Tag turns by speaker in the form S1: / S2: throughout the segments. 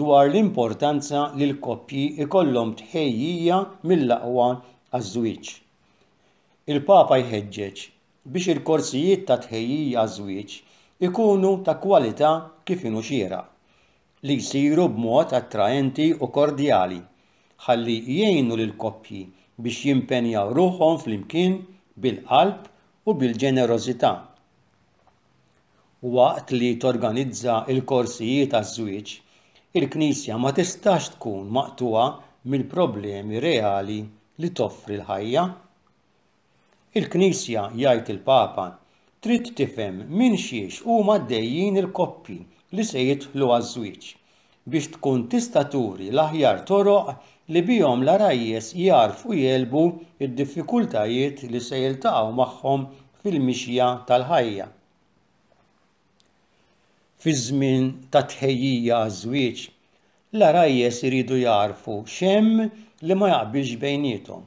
S1: dwar l-importanza li l-koppji jkollhom tħejjija mill-aqwa għaż-żwieġ. Il-Papa jħeġġeġ biex il-korsijiet ta' tħejjija għaż-żwieġ ikunu ta' kwalità kif inhu xieraq, li jsiru b'mod attraenti u kordjali, ħalli jgħinu lill-koppji biex jimpenjaw ruħhom flimkien bil-qalb u bil-ġenerożità. Waqt li torganizza l-korsijiet għaż-żwieġ, il-Knisja ma tistax tkun maqtugħa mill-problemi reali li toffri l-ħajja. Il-Knisja, jgħid il-Papa, trid tifhem minn xiex huma għaddejjin il-koppji li se jidħlu għaż-żwieġ biex tkun tista' turi l-aħjar toroq li bihom l-għarajjes jagħrfu jegħlbu d-diffikultajiet li se jiltaqgħu magħhom fil-mixja tal-ħajja. Fiż-żmien tat-tħejjija għaż-żwieġ, l-għarajjes iridu jagħrfu x'hemm li ma jaqbilx bejniethom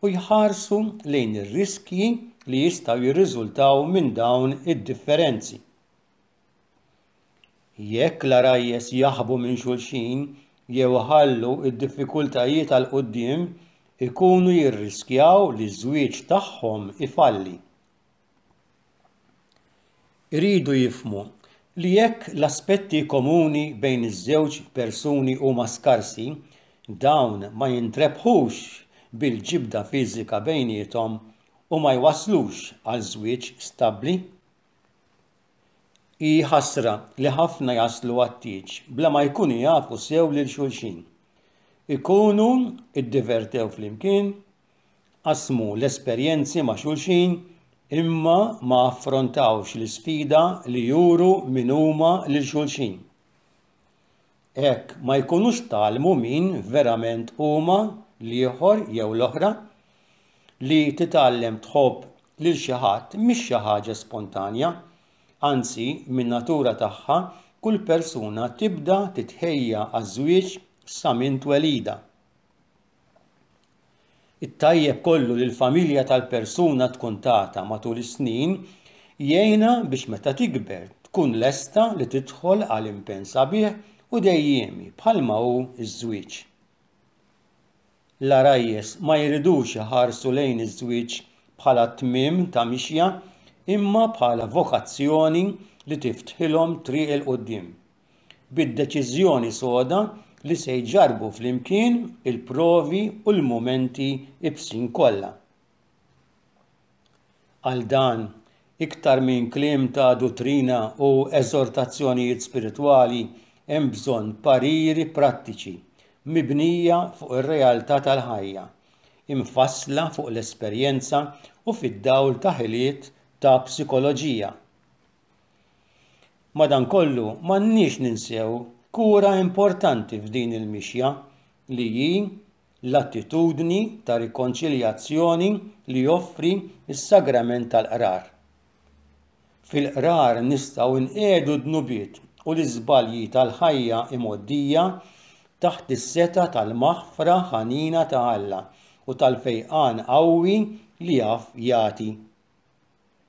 S1: u jħarsu lejn ir-riskji li jistgħu jirriżultaw minn dawn id-differenzi. Jekk l-għarajjes jaħbu minn xulxin jew iħallu d-diffikultajiet għal quddiem, ikunu jirriskjaw li ż-żwieġ tagħhom ifalli. Iridu jifhmu li jekk l-aspetti komuni bejn iż-żewġ persuni huma skarsi, dawn ma jintrebħux bil-ġibda fiżika bejniethom u ma jwasslux għal żwieġ stabbli. Hi ħasra li ħafna jaslu għat-tieġ bla ma jkunu jafu sew lil xulxin. Ikunu iddivertew flimkien, qasmu l-esperjenzi ma' xulxin, imma ma affrontawx l-isfida li juru min huma lil xulxin. Hekk ma jkunux tgħallmu min verament huma l-ieħor jew l-oħra. Li titgħallem tħobb lil xi ħadd mhix xi ħaġa spontanja. Anzi, min-natura tagħha, kull persuna tibda titħejja għaż-żwieġ sa minn twelidha. It-tajjeb kollu li l-familja tal-persuna tkun tagħta matul is-snin jgħinha biex meta tikber tkun lesta li tidħol għal impenn sabiħ u dejjiemi bħalma hu ż-żwieġ. L-għarajjes ma jridux iħarsu lejn iż-żwieġ bħala tmiem ta' mixja imma bħala vokazzjoni li tiftħilhom triq 'il quddiem. bid-deċiżjoni soda li se jġarrbu flimkien il-provi u l-mumenti ibsin kollha. Għal dan, iktar minn kliem ta' duttrina u eżortazzjonijiet spiritwali, hemm bżonn pariri prattiċi mibnija fuq ir-realtà tal-ħajja, imfassla fuq l-esperjenza u fid-dawl ta' ħiliet ta' psikoloġija. Madankollu, m'għandniex ninsew kura importanti f'din il-mixja li hi l-attitudni ta' rikonċiljazzjoni li joffri s-Sagrament tal-Qrar. Fil-Qrar nistgħu nqiegħdu d-dnubiet u l-iżbalji tal-ħajja imgħoddija taħt is-setgħa tal-maħfra ħanina ta' Alla u tal-fejqan qawwi li jaf jagħti.